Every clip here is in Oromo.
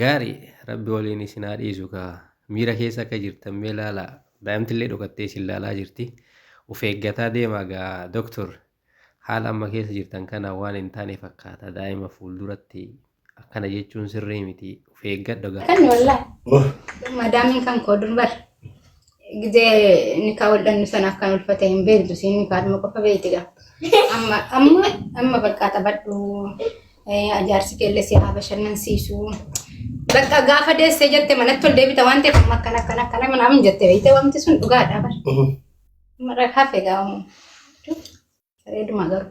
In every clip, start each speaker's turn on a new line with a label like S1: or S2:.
S1: Gaari rabbi waliin isin haa dhiisu kaa miira keessa akka jirtan mee laalaa daa'imtillee dhokattee isin laalaa jirti of eeggataa deemaa gaa doktor haala amma keessa jirtan kana waan hin taane fakkaata daa'ima fuulduratti akkana jechuun sirrii miti of eeggadha gaa. Kan wallah.
S2: Madaamiin kan koo durbar. Gidee nikaa wal dhabnu sana akkan ulfate hin beektu siin nikaadhuma qofa beektiga. Amma amma amma bakka taphadhu ajaarsi keellee si haa bashannansiisu. Bakka gaafa deessee jette manatti ol deebita waan ta'eef amma akkana akkana akkana manaa hin jette beekte wanti sun dhugaadha bar. Mara hafe gaamu. Bareeduma garuu.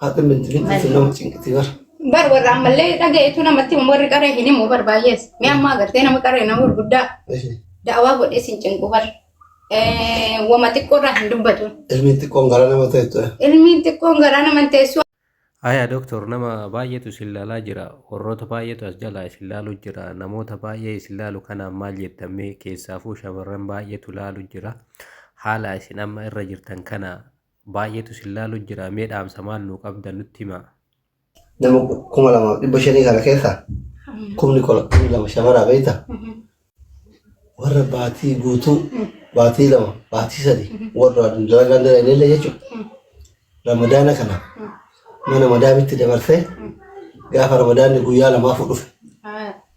S2: Haati minti
S3: minti sun nama cinqiti bara. Bar warra ammallee
S2: dhagayetu namatti himu warri qaree hin himu bar baay'ees. Mi ammaa agartee nama qaree nama gurguddaa da'awaa godhee sin cinqu bar. Wama xiqqoo irraa hin dubbatu. Ilmiin xiqqoon gara nama
S3: teessu. Ilmiin xiqqoon garaa
S2: nama hin teessu. Aya doktor
S1: nama baay'eetu isin laalaa jira. Warroota baay'eetu as jalaa isin laalu jira. Namoota baay'ee isin laalu kanaan maal jettamee keessaafuu shamarran baay'eetu laalu jira. Haala isin amma irra jirtan kana baay'eetu sin laalu jira mee dhaamsa maal nuu qabdan nutti himaa. nama
S3: kuma lamaaf dhibba shanii kana keessaa kumni kolaktii lama shamaraa beekta warra baatii guutuu baatii lama baatii sadi warra dalagaa dala illee jechuudha ramadaana kana mana madaamitti dabarsee gaafa ramadaanni guyyaa lamaafuu dhufe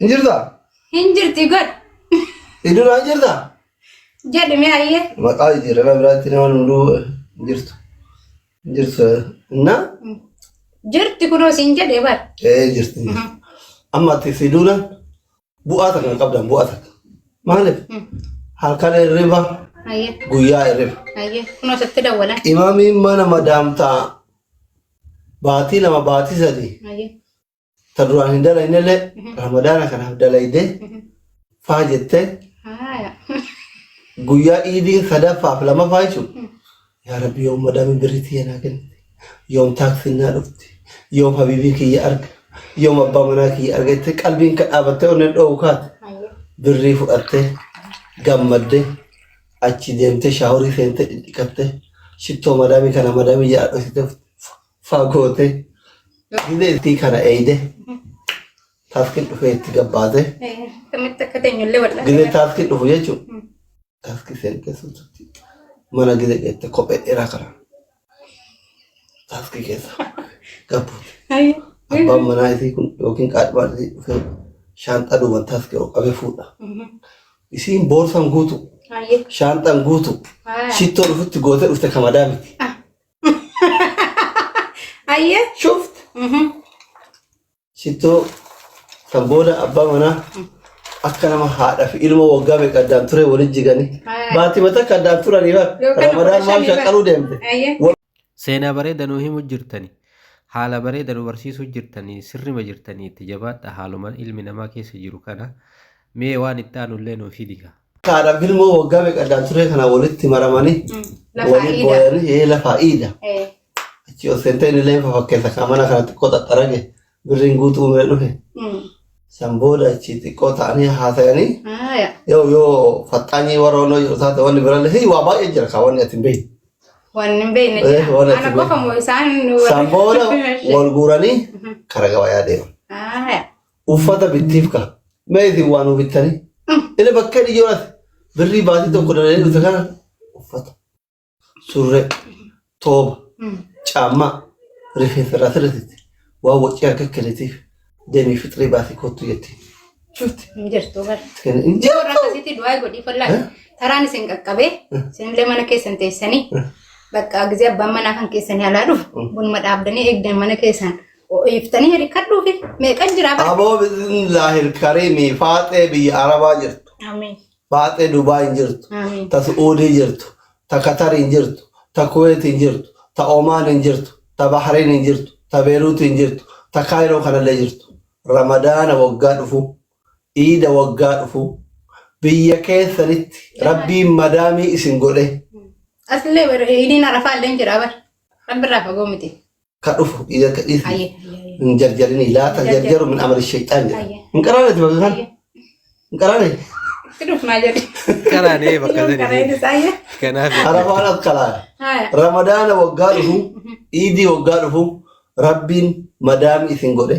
S2: Hin
S3: jirtaa? Hin jirti
S2: godh. Iddoon hin
S3: jirtaa? Jedhi mee
S2: ayyee. Maqaa jijjiirama biraatti
S3: nama hunduu hin jirtu. Hin jirtu. Na?
S2: Jirti kunoo siin jedhe bar. Ee jirti.
S3: Amma ati fi duuna bu'aa takka hin qabdan bu'aa takka. Maaliif? Halkan hirriba Ayyee. guyyaa
S2: hirriba.
S3: Ayyee. Kunoo sitti
S2: dawwalan. Imaamiin mana
S3: madaamtaa baatii lama baatii sadii Ayyee.
S2: Ta duraan
S3: hin dalaynellee ramadaana kanaaf dalaydee faa jettee Haaya. guyyaa iidii sadaffaaf lamaffaa jechuun yaa rabbi yoom madaamiin birrii tiyya naa kenna yoom taaksiin naa dhufti yoom habiibii kiyya arga yoom abbaa manaa kiyya arga jettee qalbiin ka dhaabattee onneen dhoowwu kaate Haaya. birrii fudhattee gammadde achi deemtee shaaworii seentee dhidhiqattee shittoo madaamii kana madaamii jedhaa dhositee Fagoote gidee itti kana eeyde taaskiin dhufee itti gabbaate Akkamitti akka
S2: teenyullee wal'aa. gidee taaskiin dhufu jechuun
S3: taaskii seergeessuutti mana gidee geette kophee dheeraa kana taaskii keessa gabbuute. Abbaan manaa isii kun yookiin qaadhimaan isii dhufee shaanxaa duuban taaskii ol qabee fuudha. Isiin boorsaan guutu shaanxaan guutu shittoo dhufutti gootee dhufte kamadaa miti.
S2: Aye. Shuft. Mhm.
S3: Shittoo kan booda abbaa manaa akka nama haadha fi ilma waggaa meeqa addaan ture waliin jiganii. Haa. Baatii mataa akka addaan turanii bara. Yookaan Ramadaan maal shanii bara. shaqqaluu deemte. Aye. Seenaa
S1: bareeda nu himu jirtani. Haala bareeda nu barsiisuu jirtani. Sirrima jirtani itti jabaadha. Haaluma ilmi namaa keessa jiru kana. Mee waan itti aanu illee nuuf himi. Kaadhaaf ilmoo
S3: waggaa meeqa addaan turee kana walitti maramanii Lafa waliin iida. booyanii ee lafaa iida. Eh, Achi ol seentee inni illee fakkeessa kan mana kana xiqqoo xaxxarage birriin guutuu mee dhufe. mm. San booda achi xiqqoo ta'anii haasayanii Ah, ya. yoo yoo faxxaanii warra onnoo jiru taate wanni birallee hii waa baay'ee jira kaa wanni ati hin beekne. Waan hin
S2: beekne Eh, jira. waan ati Ana hin qofa beekne. moo isaan San booda
S3: wal guuranii kara gabayaa deeman. Ah, ya. Uffata bittiif ka. Mee isin waa nuu bittanii. Inni bakkee dhiyyoo ati birrii baatii tokko dalee dhufte kana uffata. Surree. Tooba. Caammaa. Rifeensa irraa sirreessite. Waan wacii harka kennitiif deemii fixrii baasii kottu jetti. Shufti. Hin jirtu bar.
S2: Kenna hin Yoo warra jirtu.
S3: akkasitti
S2: du'aa
S3: godhii
S2: fallaa. Eh? Taraan isin qaqqabee isinillee mana keessan teessanii bakka gizee abbaan manaa kan keessanii alaa dhufu bunuma dhaabdanii eegdan mana keessan Iftanii hirkadhuufi meeqan jiraa bara. Aboo bismillaahil
S3: kariimii faaxee biyya arabaa jirtu Amiin. faaxee
S2: dubaay
S3: hin jirtu Amiin. ta su'uudii
S2: jirtu
S3: ta katar hin jirtu ta kuweet hin jirtu ta omaan hin jirtu ta bahrain hin jirtu ta beeruut hin jirtu ta kaayiroo kanallee jirtu ramadaana waggaa dhufu iida waggaa dhufu biyya keessanitti rabbiin madaamii isin godhe Asillee bara
S2: idiin arafaa illee hin jiraa bara. Rabbi irraa fagoo miti. ka dhufu ija
S3: ka dhiisi Ayyee. Ayyee. hin
S2: jarjarini
S3: laa ta jarjaru min amali shayxaan jedha Ayyee. hin qaraaneti bakka kan Ayyee. hin qaraane Itti dhufnaa
S2: jedhe. Qaraanee bakka
S1: Yoon kana sanii. innis ayyee. Kanaaf
S2: arafaan
S1: akkalaa Haya.
S3: ramadaana
S2: waggaa
S3: dhufu iidii waggaa dhufu rabbiin madaami isin godhe